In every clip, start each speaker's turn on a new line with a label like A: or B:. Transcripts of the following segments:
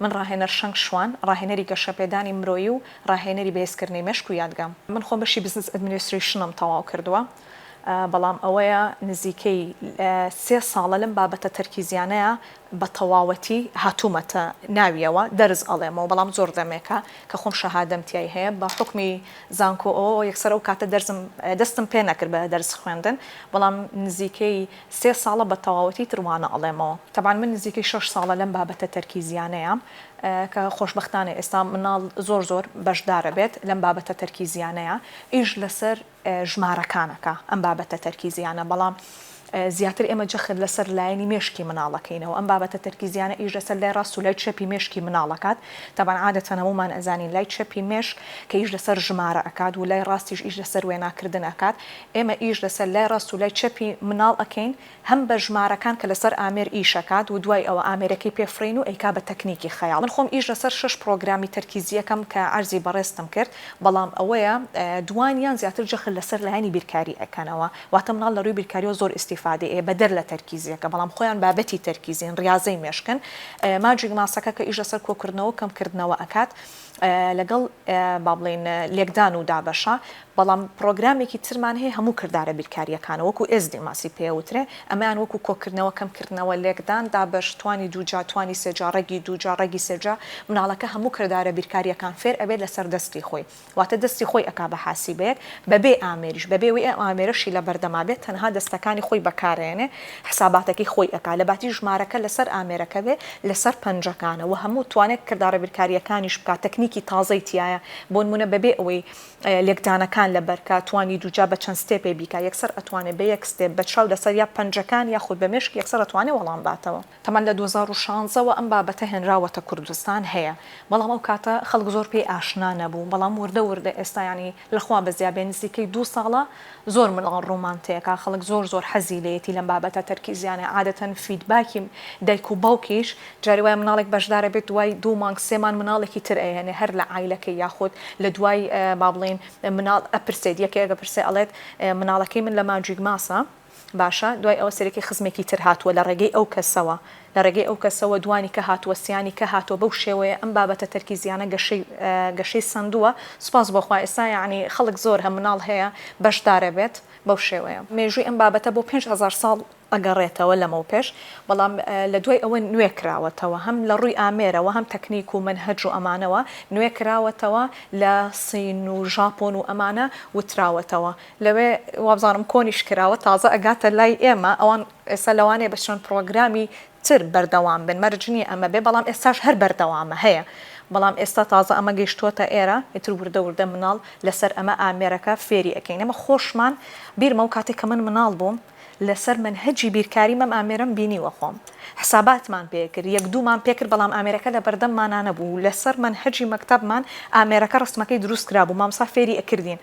A: من ڕاهێنەر
B: شەنگ شوان، ڕاهێنەری گەشەپێدانی مرۆیی و ڕاهێنەری بەهێزکردنی مێشک و یادگەم. من خۆم بەشی بزنس ئەدمنیسترەیشنم تەواو کردووە بەڵام ئەوەیە نزیکەی سێ ساڵە لەم بابەتە تەرکیزیانەیا بە تەواوەتی هاتوومەتە ناویەوە دەرس ئەڵێمەوە بەڵام زۆر دەمێکە کە خۆم شەهادەم تیای هەیە بە حوکمی زانکۆ ئەوە یەکسەر ئەو کاتە دەرسم دەستم پێ نەکرد بە دەرس خوێندن بەڵام نزیکەی سێ ساڵە بە تەواوەتی تر وانە ئەڵێمەوە تەبعەن من نزیکەی شەش ساڵە لەم بابەتە تەرکیزیانەیام کە خۆشبەختانە ئێستا مناڵ زۆر زۆر بەشدارە بێت لەم بابەتە تەرکیزیانەیا ئیش لەسەر ژمارەکانەکا ئەم بابەتە تەرکیزیانە بەڵام زیاتر ئێمە جەخت لەسەر لایەنی مێشکی مناڵەکەینەوە ئەم بابەتە تەرکیزیانە ئیش لەسەر لای ڕاست و لای چەپی مێشکی مناڵەکات تەبان عادەتەن هەموومان ئەزانین لای چەپی مێشک کە ئیش لەسەر ژمارە ئەکات و لای ڕاستیش ئیش لەسەر وێناکردن ئەکات ئێمە ئیش لەسەر لای ڕاست و لای چەپی مناڵ ئەکەین هەم بە ژمارەکان کە لەسەر ئامێر ئیشەکات و دوای ئەوە ئامێرەکەی پێ فڕین و ئەیکا بە تەکنیکی خەیاڵ من خۆم ئیش لەسەر شەش پڕۆگرامی تەرکیزیەکەم کە عەرزی بەڕێزتم کرد بەڵام ئەوەیە دوانیان زیاتر جەخت لەسەر لایەنی بیرکاری ئەکەنەوە واتە مناڵ لە رووی بیرکاریەوە زۆر ئیستیفادەی ئەیە بەدەر لە تەرکیزیەکە بەڵام خۆیان بابەتی تەرکیزین ڕیازەی مێشکن ماجیک ماسەکە کە ئیش لەسەر کۆکردنەوە و کەم کردنەوە ئەکات لەگەڵ با بڵێین لێکدان و دابەشە، بەڵام پڕۆگرامێکی ترمان هەیە هەموو کردارە بیرکارییەکانە وەکو ئێزدیماسی پێوترێ، ئەمەیان وەکو کۆکردنەوە، کەمکردنەوە، لێکدان، دابەش، توانی دووجا، توانی سێجا، ڕەگی دووجا، ڕەگی سێجا، مناڵەکە هەموو کردارە بیرکارییەکان فێر ئەبێت لەسەر دەستی خۆی، واتە دەستی خۆی ئەکا بە حاسیبەیەک بەبێ ئامێریش، بەبێ ئەوەی ئەو ئامێرەشی لەبەردەما بێت تەنها دەستەکانی خۆی بەکارئەیەنێ، حساباتەکەی خۆی ئەکا لە باتی ژمارەکە لەسەر ئامێرەکە بێ لەسەر پەنجەکانە وە هەموو توانێک کردارە بیرکاریەکانیش بکا تەکنیکی تازەی تیایە بۆنمونە بەبێ ئەوەی لێکدانەکان لەبەرکا توانی دووجا بە چەند ستێپێ بیکا یەکسەر ئەتوانێ بە یەک ستێپ بە چاو لەسەر یا پەنجەکان یاخود بە مێشک یەکسەر ئەتوانێ وەڵام باتەوە. تەمان لە دوو هەزار و شازدە وە ئەم بابەتە هێنراوەتە کوردستان هەیە بەڵام ئەو کاتە خەڵک زۆر پێی ئاشنا نەبوو بەڵام وردە وردە ئێستا یانی لە خوا بەزیا بێ نزیکەی دوو ساڵە زۆر مناڵ ڕومانتێکە خەڵک زۆر زۆر حەزی لێیەتی لەم بابەتە تەرکیزیانە عادەتەن فیدباکی دایک و باوکیش جاری وایە مناڵێک بەشدارە بێت دوای دوو مانگ سێ مان مناڵێکی تر ئەیەنێ هەر لە عایلەکەی یاخود لە دوای با بڵێین مناڵ ئەپرسێت یەکێک ئەپرسێ ئەڵێت مناڵەکەی من لە ماجیک ماسە باشە دوای ئەوە سەرەکی خزمێکی تر هاتووە لە ڕێگەی ئەو کەسەوە لە ڕێگەی ئەو کەسەوە دوانیکە هاتووە سیانیکە هاتووە بەو شێوەیە ئەم بابەتە تەرکیزیانە گەشەی گەشەی سەندووە سوپاس بۆ خوا ئێستا یەعنی خەڵک زۆر هە مناڵ هەیە بەشدار ئەبێت بەو شێوەیە مێژووی ئەم بابەتە بۆ پێنج هەزار ساڵ ئەگەڕێتەوە لەمەو پێش بەڵام لە دوای ئەوە نوێ کراوەتەوە هەم لە ڕووی ئامێرەوە هەم تەکنیک و مەنهەج و ئەمانەوە نوێ کراوەتەوە لە سین و ژاپۆن و ئەمانە وتراوەتەوە لەوێ وابزانم کۆنیش کراوە تازە ئەگاتە لای ئێمە ئەوان ئێستا لەوانەیە بە چەند پڕۆگرامی تر بەردەوام بن مەرج نیە ئەمە بێ بەڵام ئێستاش هەر بەردەوامە هەیە بەڵام ئێستا تازە ئەمە گەیشتوەتە ئێرە ئیتر وردە وردە مناڵ لەسەر ئەمە ئامێرەکە فێری ئەکەین ئێمە خۆشمان بیرمە ئەو کاتەی کە من مناڵ بووم لەسەر مەنهەجی بیرکاری مەم ئامێرەم بینیوە خۆم حساباتمان پێ کرد یەک دوومان پێ کرد بەڵام ئامێرەکە لەبەردەممانا نەبوو و لەسەر مەنهەجی مەکتەبمان ئامێرەکە ڕەسمەکەی دروست کرابوو مامۆستا فێری ئەکردین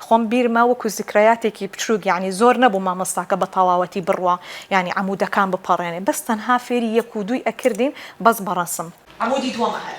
B: خۆم بیرمە وەکو زکرەیاتێکی بچووک یانی زۆر نەبوو مامۆستاکە بەتەواوەتی بڕوا یانی عەمودەکان بپەڕێنێ بەس تەنها فێری یەک و دووی ئەکردین بەس بەڕەسم عەمودی دووەمە هەر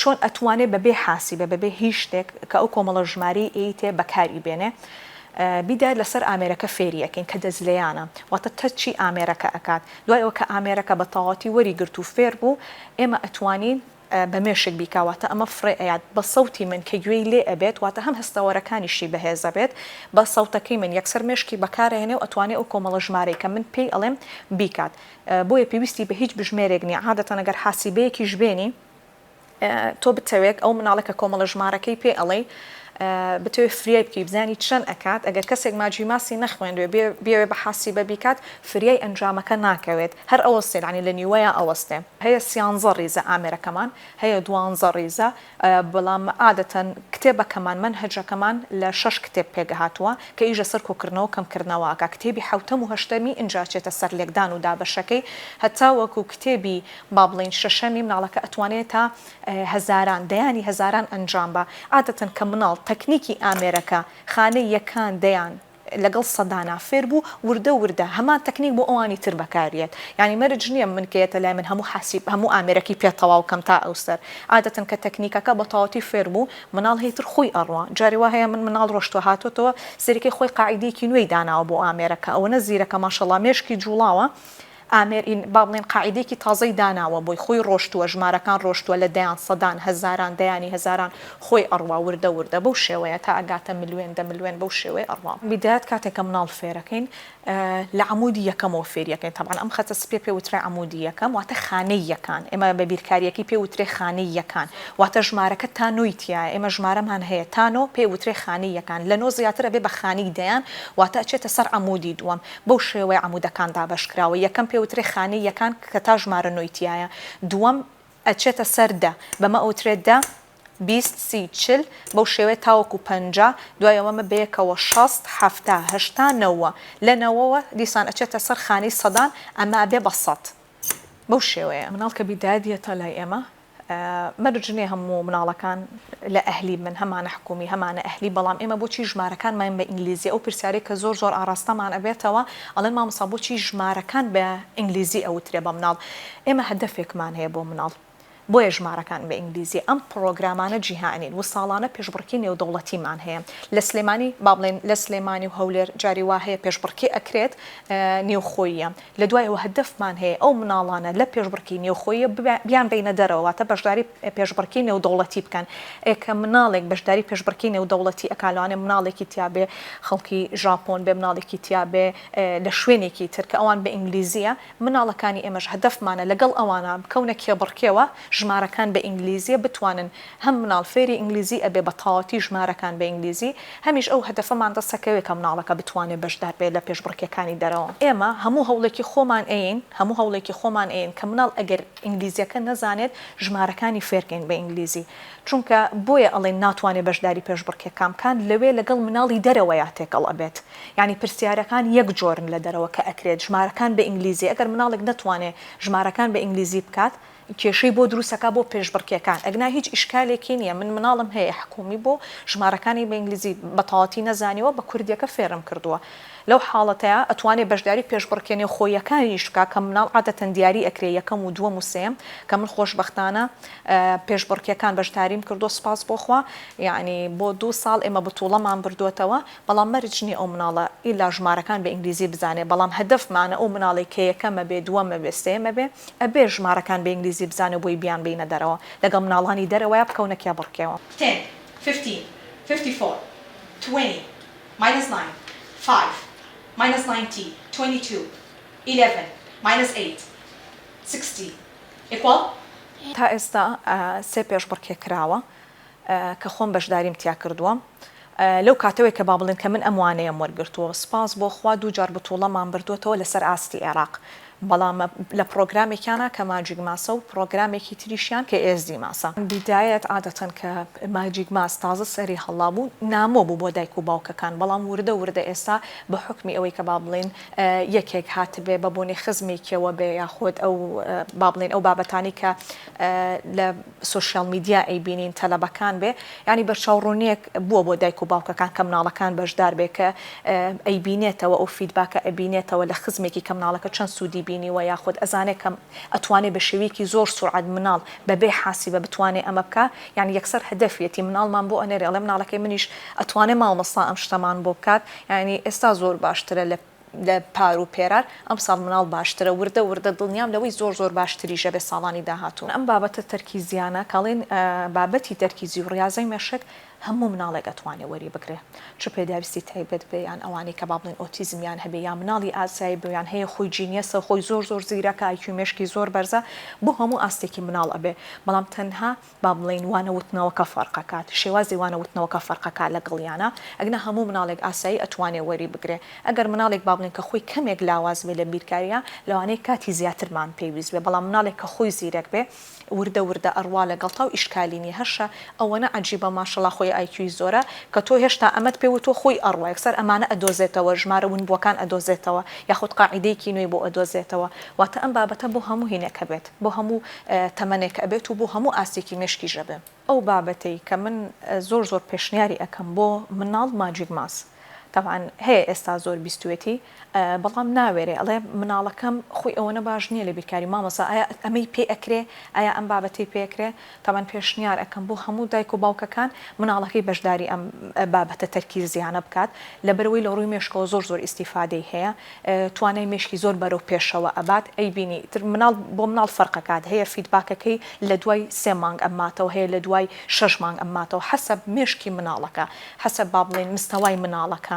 B: چۆن ئەتوانێ بە بێ حاسیبە بە بێ هیچ شتێک کە ئەو کۆمەڵە ژمارەی ی تێ بەکاری بێنێ بیدات لە سەر ئامێرەکە فێری ئەکەین کە دەزلێیانە واتە تەچی ئامێرەکە ئەکات دوای ئەوە کە ئامێرەکە بە تەواوەتی وەری گرت و فێر بوو ئێمە ئەتوانین بە مێشک بیکا واتە ئەمە فڕێ ئەیات بە سەوتی من کە گوێی لێ ئەبێت واتە هەم هەستەوەرەکانیشی بەهێز ئەبێت بە سەوتەکەی من یەکسەر مێشکی بەکار ئەهێنێ و ئەتوانێ ئەو کۆمەڵە ژمارەی کە من پێی ئەڵێم بیکات بۆیە پێویستی بە هیچ بژمێرێک نیە عادەتەن ئەگەر حاسیبەیەکیش بێنی تۆ بتەوێت ئەو مناڵە کە کۆمەڵە ژمارەکەی پێ ئەڵێی بتەوێت فریای بکەی بزانی چەند ئەکات ئەگەر کەسێک ماجی ماسی نەخوێندوێ بێوێ بە حاسیبە بیکات فریای ئەنجامەکە ناکەوێت هەر ئەوەستێ یانی لە نیوەیا ئەوەستێ هەیە سیانزە ڕیزە ئامێرەکەمان هەیە دوانزە ڕیزە بەڵام عادەتەن کتێبەکەمان، مەنهەجەکەمان لە شەش کتێب پێکهاتووە کە ئیش لەسەر کۆکردنەوەو کەمکردنەوە ئەکا، کتێبی حەوتەم و هەشتەمی ئینجا ئەچێتە سەر لێکدان و دابەشەکەی هەتاوەکو کتێبی با بڵێین شەشەمی، مناڵەکە ئەتوانێ تا هەزاران دەیانی هەزاران ئەنجام با، عادەتەن کە مناڵ تەکنیکی ئامێرەکە خانەی یەکان دەیان لەگەڵ سەدانا فێر بوو وردە وردە هەمان تەکنیک بۆ ئەوانی تر بەکاریەت یانی مەرج نیە من کە یەتە لای من هەموو حاسیب هەموو ئامێرەکی پێ تەواو کەم تا ئەوسەر عادەتەن کە تەکنیکەکە بە تەواوەتی فێر بوو مناڵ هەی تر خووی ئەڕوا جاری وا هەیە من مناڵ ڕۆشتوە هاتۆتەوە سەریکەی خۆی قاعیدەیەکی نوێی داناوە بۆ ئامێرەکە ئەوەنە زیرەکە ماشەڵا مێشکی جوڵاوە ئامێر ین با بڵێین قاعیدەیەکی تازەی داناوە بۆی خۆی ڕۆشتووە ژمارەکان ڕۆشتووە لە دەیان سەدان هەزاران دەیانی هەزاران خۆی ئەڕوا وردە وردە بەو شێوەیە تا ئەگاتە ملوێن دە ملوێن بەو شێوەیە ئەڕوا. بیدایەت کاتێک کە مناڵ فێرەکەین لە عەمودی یەکەمەوە فێریەکەین تەبعەن ئەم خەتە سپیە پێ وترا عەمودی یەکەم واتە خانەی یەکان ئێمە بە بیرکاریەکەی پێ وترێ خانەی یەکان واتە ژمارەکە تا نۆی تیایە ئێمە ژمارەمان هەیە تا نۆ پێ وترێ خانەی یەکان لە نۆ زیاتر ئەبێ بە خانەی دەیان واتە ئەچێتە سەر عەمودی دووەم بەو شێوەیە عەمودەکان دابەش کراوە، یەکەم پێوترێ خانەی یەکان کە تا ژمارە نۆی تیایە، دووەم ئەچێتە سەر دە، بەمە ئەوترێ دە، بیست، سی، چل، بەو شێوەیە تاوەکو پەنجا، دوای ئەوە مە بەیەکەوە شەست، حەفتا، هەشتا، نەوە، لە نەوەوە دیسان ئەچێتە سەر خانەی سەدان، ئەمە ئەبێ بە سەد. بەو شێوەیە. مناڵ کە بیدادیەتە لای ئێمە مەرج نیە هەموو مناڵەکان لە ئەهلی بن هەمانە حکومی هەمانە ئەهلی بەڵام ئێمە بۆچی ژمارەکانماین بە ئینگلیزی ئەو پرسیارەی کە زۆر زۆر ئاڕاستەمان ئەبێتەوە ئەڵێن مامۆستا بۆچی ژمارەکان بە ئینگلیزی ئەوترێ بە مناڵ ئێمە هەدەفێکمان هەیە بۆ مناڵ بۆیە ژمارەکان بە ئینگلیزی ئەم پڕۆگرامانە جیهانین و ساڵانە پێشبڕکی نێودەوڵەتیمان هەیە لە سلێمانی با بڵێن لە سلێمانی و هەولێر جاری وا هەیە پێشبڕکی ئەکرێت نێوخۆییە لە دوایەوە هەدەفمان هەیە ئەو مناڵانە لە پێشبڕکێی نێوخۆییە بیانبەینە دەرەوە، واتە بەشداری پێشبڕکێی نێودەوڵەتی بکەن، ئێ کە مناڵێک بەشداری پێشبڕکێی نێودەوڵەتی ئەکا لەوانەیە مناڵێکی تیا بێ خەڵکی ژاپۆن بێ، مناڵێکی تیا بێ لە شوێنێکی تر کە ئەوان بە ئینگلیزییە، مناڵەکانی ئێمەش هەدەفمانە لەگەڵ ئەوانە بکەونە کێبڕکێوە، ژمارەکان بە ئینگلیزییە بتوانن هەم مناڵ فێری ئینگلیزی ئەبێ بە تەواوەتی ژمارەکان بە ئینگلیزی، هەمیش ئەو هەدەفەمان دەست ئەکەوێ کە مناڵەکە بتوانێ بەشدار بێ لە پێشبڕکێکانی دەرەوە. ئێمە هەموو هەوڵێکی خۆمان ئەیەین هەموو هەوڵێکی خۆمان ئەیەین کە مناڵ ئەگەر ئینگلیزیەکە نەزانێت ژمارەکانی فێرکەین بە ئینگلیزی چونکە بۆیە ئەڵێین ناتوانێ بەشداری پێشبڕکێکان بکان لەوێ لەگەڵ مناڵی دەرەوەیا تێکەڵ ئەبێت یانی پرسیارەکان یەک جۆرن لە دەرەوە کە ئەکرێت ژمارەکان بە ئینگلیزی ئەگەر مناڵێک نەتوانێ ژمارەکان بە ئینگلیزی بکات کێشەی بۆ دروست ئەکا بۆ پێشبڕکێکان ئەگنا هیچ ئیشکالێکی نیە من مناڵم هەیە حکومی بۆ ژمارەکانی بە ئینگلیزی بە تەواتی نەزانیوە بە کوردیەکە فێرم کردوە لەو حاڵەتەیا ئەتوانێ بەشداری پێشبڕکێ نێوخۆییەکانیش بکا کە مناڵ عادەتەن دیاری ئەکرێ یەکەم و دوەم و سێم کە من خۆشبەختانە پێشبڕکێکان بەشداریم کردوە سوپاس بۆ خوا یانی بۆ دوو ساڵ ئێمە بتوڵەمان بردۆتەوە بەڵام مەرج نیە ئەو مناڵە ئیلا ژمارەکان بە ئینگلیزی بزانێ بەڵام هەدەفمانە ئەو مناڵەی کە یەکەمە بێ دووەمە بێ سێیەمە بێ ئەبێ ژمارەکان بە ئینگلیزی بزانێ و بۆی بیان بینە دەرەوە لەگەڵ مناڵانی دەرەوەیا بکەونە کێبڕکێوە. تێن، فیفتین، فیفتی فۆر، توێنی، ماینەس ناین،
A: فایڤ، ماینەس ناینتی، توێنی توو، ئیلێڤن، ماینەس ئەیت،
B: سیکستی، ئیکواڵ. تا ئێستا سێ پێشبڕکێ کراوە. کە خۆم بەشداریم تیا کردووە لەو کاتەوەی کە با بڵێن کە من ئەم وانەیەم وەرگرتووە سوپاس بۆ خوا دوو جار بتووڵەمان بردۆتەوە لەسەر ئاستی ئێراق بەڵام لە پڕۆگرامێکیانا کە ماجیک ماسە و پڕۆگرامێکی تریشیان کە ئێزدی ماسە. بیدایەت عادەتەن کە ماجیک ماس تازە سەری هەڵابوو نامۆ بوو بۆ دایک و باوکەکان بەڵام وردە وردە ئێستا بە حوکمی ئەوەی کە با بڵێن یەکێک هاتبێ بە بۆنەی خزمێکیەوە بێ یاخۆد ئەو با بڵێن ئەو بابەتانەی کە لە سۆشیال میدیا ئەیبینین تەلەبەکان بێ یانی بەرچاو ڕونیەک بوە بۆ دایک و باوکەکان کە مناڵەکان بەشدار بێ کە ئەیبینێتەوە ئەو فیدباکە ئەبینێتەوە لە خزمێکی کە مناڵەکە چەند سودی بینیوە یاخود ئەزانێ کە ئەتوانێ بە شێویەکی زۆر سورعەت مناڵ بە بێ حاسیبە بتوانێ ئەمە بکا یانی یەکسەر هەدەفیەتی مناڵمان بۆ ئەنێرێ ئەڵێ مناڵەکەی منیش ئەتوانێ مامۆستا ئەم شتەمان بۆ بکات یانی ئێستا زۆر باشترە لە لە پار و پێرار ئەمساڵ مناڵ باشترە وردە وردە دڵنیام لەوەی زۆر زۆر باشتریش ئەبێت ساڵانی داهاتوو. ئەم بابەتە تەرکیزیانە کە ئەڵێن بابەتی تەرکیزی و ڕیازەی مێشک هەموو مناڵێک ئەتوانێ وەری بگرێ چ پێداویستی تایبەت بێ یان ئەوانەی کە با بڵێن ئۆتیزمیان هەبێ یان مناڵی ئاسایی بوویان هەیە خۆی جینیەسە خۆی زۆر زۆر زیرەکە ئای کیو مێشکی زۆر بەرزە بۆ هەموو ئاستێکی مناڵ ئەبێ بەڵام تەنها با بڵێین وانە وتنەوەکە فەرقەکات شێوازی وانە وتنەوەکە فەرقەکات لەگەڵیانا ئەگنا هەموو مناڵێک ئاسایی ئەتوانێ وەری بگرێ ئەگەر مناڵێک با بڵێین کە خۆی کەمێک لاواز بێ لە بیرکارییا لەوانەیە کاتی زیاترمان پێویست بێ بەڵام مناڵێک کە خۆی زیرەک بێ وردە وردە ئەڕوا لەگەڵتاو ئیشکالی نیە هەرشە ئەوەنە عەجیبە ماشەڵا خۆی ئای کیوی زۆرە کە تۆ هێشتا ئەمەت پێ وتوە خۆی ئەڕوا یەکسەر ئەمانە ئەدۆزێتەوە ژمارە ونبوەکان ئەدۆزێتەوە یاخود قاعیدەیەکی نوێی بۆ ئەدۆزێتەوە واتە ئەم بابەتە بۆ هەموو هینێک هەبێت بۆ هەموو تەمەنێک ئەبێت و بۆ هەموو ئاستێکی مێشکیش ئەبێ. ئەو بابەتەی کە من زۆر زۆر پێشنیاری ئەکەم بۆ مناڵ ماجیک ماس تەبعەن هەیە ئێستا زۆر بیستوێتی بەڵام ناوێرێ ئەڵێ مناڵەکەم خۆی ئەوەنە باش نیە لە بیرکاری مامۆسا ئایا ئەمەی پێ ئەکرێ ئایا ئەم بابەتەی پێ ئەکرێ تەبەن پێشنیار ئەکەم بۆ هەموو دایک و باوکەکان مناڵەکەی بەشداری ئەم بابەتە تەرکیزیانە بکات لەبەرئەوەی لەڕووی مێشکەوە زۆر زۆر ئیستیفادەی هەیە توانای مێشکی زۆر بەرەو پێشەوە ئەبات ئەیبینی تر مناڵ بۆ مناڵ فەرقەکات هەیە فیدباکەکەی لەدوای سێ مانگ ئەماتەوە هەیە لەدوای شەش مانگ ئەماتەوە حەسەب مێشکی مناڵەکە حەسەب بابڵێین مستەوای مناڵەکە